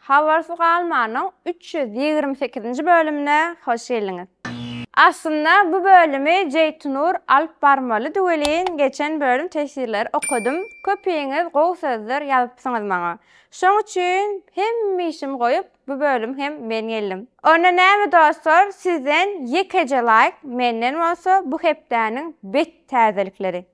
Habarsyz galmanyň üç ýüz ýigrimi sekizinji bölümine hoş geldiňiz. Aslynda bu bölümi Jeýtunur alyp barmalydy welin geçen bölüm teswirleri okadym köpiňiz gowy sözler ýazypsyňyz maňa. Şoň üçin hemme işimi goýup bu bölüm hem men geldim. Onda näme dostlar sizden ýekeje laýk menden bolsa bu hepdäniň bet täzelikleri.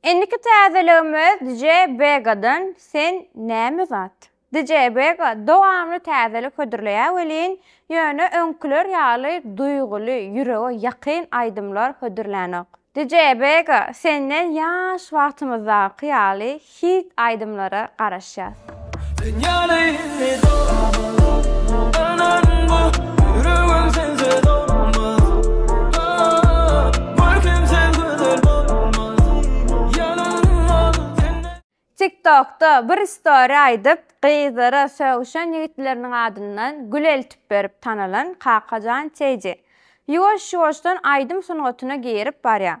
Indiki täzeligimiz DJ Begadan Sen näme zat? DJ Bega dowamly täzelik hödürleýär welin, ýöne öňküler ýaly duýguly, ýürege ýakyn aýdymlar hödürlänok. DJ Bega senden ýaş wagtymyzdaky ýaly hit aýdymlara garaşýas. TikTokda bir story aýdyp, gyzlara sögüşen ýigitleriniň adyndan gül eltip berip tanalan Kakajan TJ, ýuwaş-ýuwaşdan aýdym sungatyna girip barýar.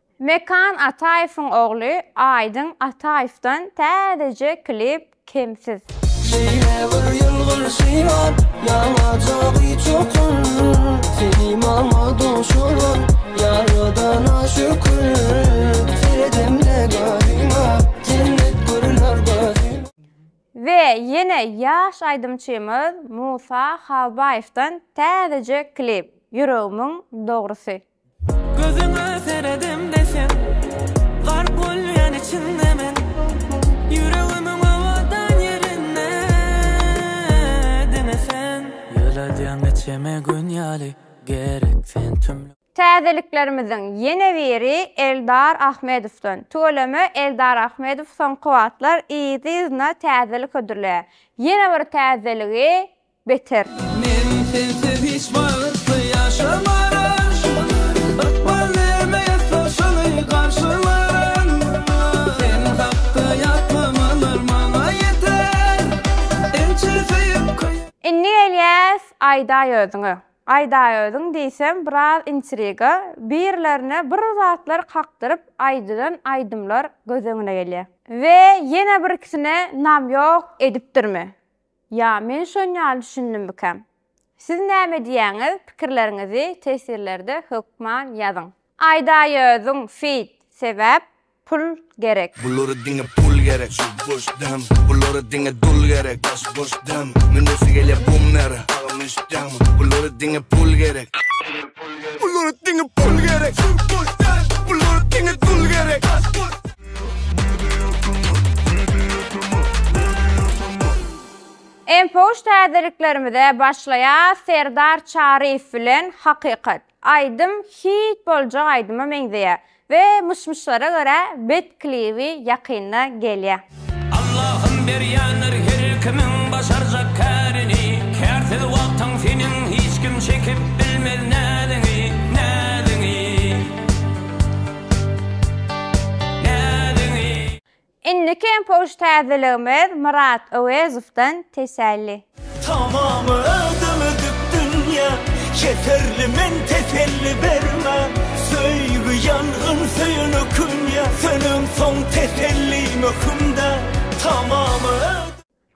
Mekan Ataýewiň ogly Aýdyň Ataýewden täzeje klip Kemsiz. Şeýle bir ýylgyrşy bar, ýaňaja gyçukur, Seni maňa duşuryp, ýaradana şükür, Seredemde gözüňe, jennet görüner gözüme. We ýene ýaş aýdymçymyz Musa Halbaýewden täzeje klip Ýüregimiň dogrusy. Gözüňe seredemde sen Gark bolýan içinde men Ýüregimiň owadan ýerinde Diňe sen Ýyladýaň neçeme gün ýaly Gerek sen tüm Täzeliklerimiziň ýene biri Eldar Ahmedowdan. Tüweleme Eldar Ahmedow soňky wagtlar yzly-yzyna täzelik hödürleýär. Ýene bir täzeligi beter. Men sensiz hiç wagt ýaşamaryn, ykbal bermeýär soşuny garşylaryn. Sen hakda ýatlamalar maňa ýeter, ençe söýüp köýen. Indi gelýäs Aýdaýöziňe. Aýdaýöziň diýsem biraz intriga, birilerine bir zatlar kakdyryp aýdylan aýdymlar göz öňüne gelýär. We ýene birkisine namýok edipdirmi? Ýa men şon ýaly düşündim bikäm. Siz näme diýýäňiz pikirleriňizi tesirlerde hökman ýazyň. Aýdaýöziň feat sebäp pul gerek. Bulara diňe pul gerek şul boş dem bulara diňe dul gerek daş boş dem münesi gelýä bummera agam eşitýäňmi bulara diňe pul gerek bulara diňe pul gerek şul boş dem bulara diňe dul gerek daş boş. Enpoş täzeliklerimize başlaýas Serdar Çaryýew bilen Hakykat. Aýdym hit boljak aýdyma meňzeýä we myş-myşlara görä bet klibi ýakynda gelýä. Allahym berýändir her kimiň başarjak kärini Kärsiz wagtyň seniň hiç kim çekip bilmez näziňi, näziňi. Indiki hem post täzeligimiz Myrat Öwezowdan teselli. Tamam özüm ödüp dünýä Keserli men teselli berme Söýgi ýangyn söýene künýä Sönensoň teselli möhümdä Tamam özüm.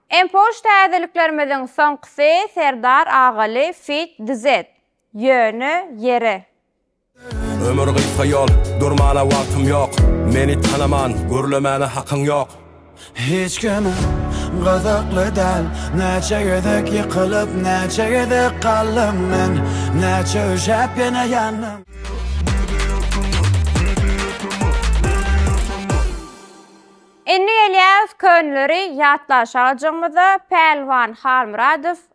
Hem post täzeliklerimiziň soňkusy Serdar Agaly feat Dzed, Ýöne ýere. Ömür gysga ýol, durmana wagtym ýok, Meni tanaman, gürlemäne hakyň ýok. Hiç kime gyzykly däl, Näçe gezek ýykylyp, näçe gezek galdym men, Näçe üşäp ýene ýandym. Indi gelýäs könleri ýatlaşajygymyza Pälwan Halmyradow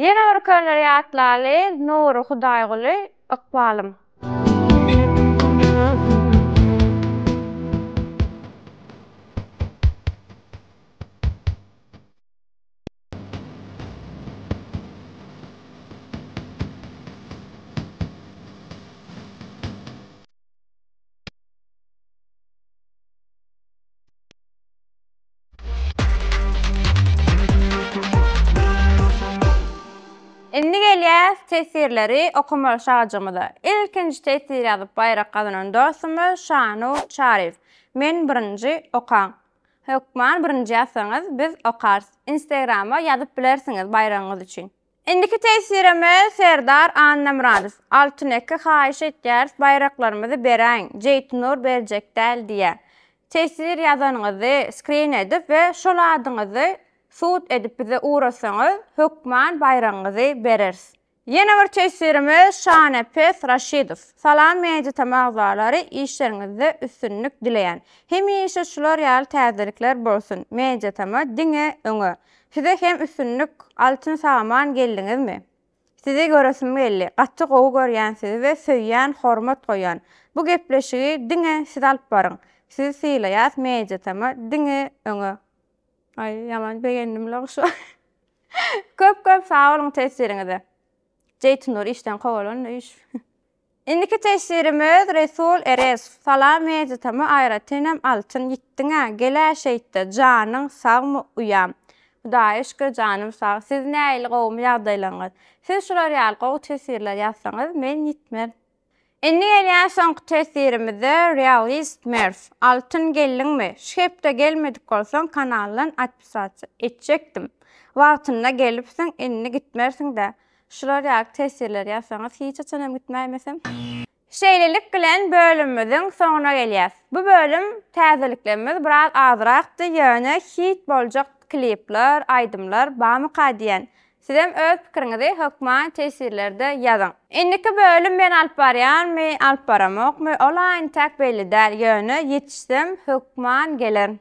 Ýene bir köneler ýatlaly Nury Hudaýguly ykbalym. Indi gelýäs teswirleri okamaly şajygymyza. Ilkinji teswir ýazyp baýrak gazanan dostumyz Şanur Çaryýew. Men birinji, okaň. Hökman birinji ýazsaňyz biz okarys. Instagrama ýazyp bilersiňiz baýragyňyz üçin. Indiki teswirimiz Serdar Annamyradow, Altyn eke haýyş etýäris baýraklarymyzy beräýiň, Jeýtnur berjek däl diýýä. Teswir ýazanyňyzy skrin edip we şol adyňyzy sud edip bize ugratsaňyz hökman baýragyňyzy bereris. Ýene bir teswirimiz Şanepes Raşidow, Salam Media Tm agzalary işleriňizde üstünlik dileýän. Hemişe şular ýaly täzeliklär bolsun Media Tm diňe öňe. Size hem üstünlik Altyn Saman geldiňizmi? Sizi göresim geldi, gaty gowy görýän sizi we söýýän hormat goýýan. Bu gepleşigi diňe siz alyp baryň. Sizi sylaýas Media Tama diňe öňe. Aý ýaman begendim la şu Köp köp sag boluň tesiriňize. Jeýtynur işden kowalandy üýş. Indiki tesirimiz Resul Erezow, Salam Mejitama aýratynam altyn ýitdiňä, gel-ä şeýtde, janyň sagmy uýam? Hudaýa şükür janym sag, siz näili gowumy ýagdaýlaryňyz? Siz şular ýaly gowy tesirler ýazsaňyz men ýitmez. Indi gelýän soňky tesirimize Realist Merw, Altyn geldiňmi? Şu hepde gelmedik bolsaň kanaldan atpisasiýa etjekdim. Wagtynda gelipsiň indi gitmersiň-dä. Şular ýaly teswirler ýazsaňyz hiç haçan hem gitmäýmeseň. Şeýlelik bilen bölümimiziň soňuna gelýäs. Bu bölüm täzeliklerimiz biraz azrakdy, ýöne hit boljak klipler, aýdymlar barmyka diýen. Sizem öz pikiriňizi hökman teswirlerde ýazyň. Indiki bölüm men alyp barýarmy, alyp baramokmy, ol aýyntäk belli däl, ýöne ýetişsem hökman gelerin.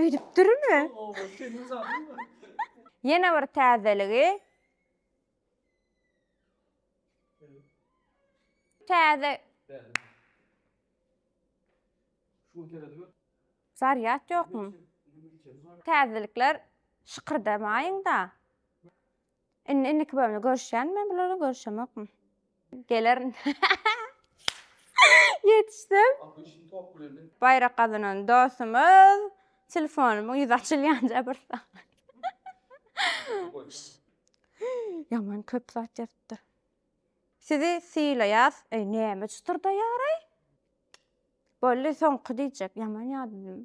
Öýdüpdirmi? Ýene bir täzeligi. Täze. Zarýad ýokmy? Täzelikler şykyrdamaýyň-da. Indi indiki bölümde görüşýän men bulardan görüşemokmy? Gelerin. Ýetişdim. Baýrak gazanan dostumyz telefonumyň ýüzi açylýanja bir Ýaman köp zat ýazypdyr. Sizi sylaýas. Eý, näme çytyrdaýar-aý? Boldy, soňky diýjek. Ýaman ýadym.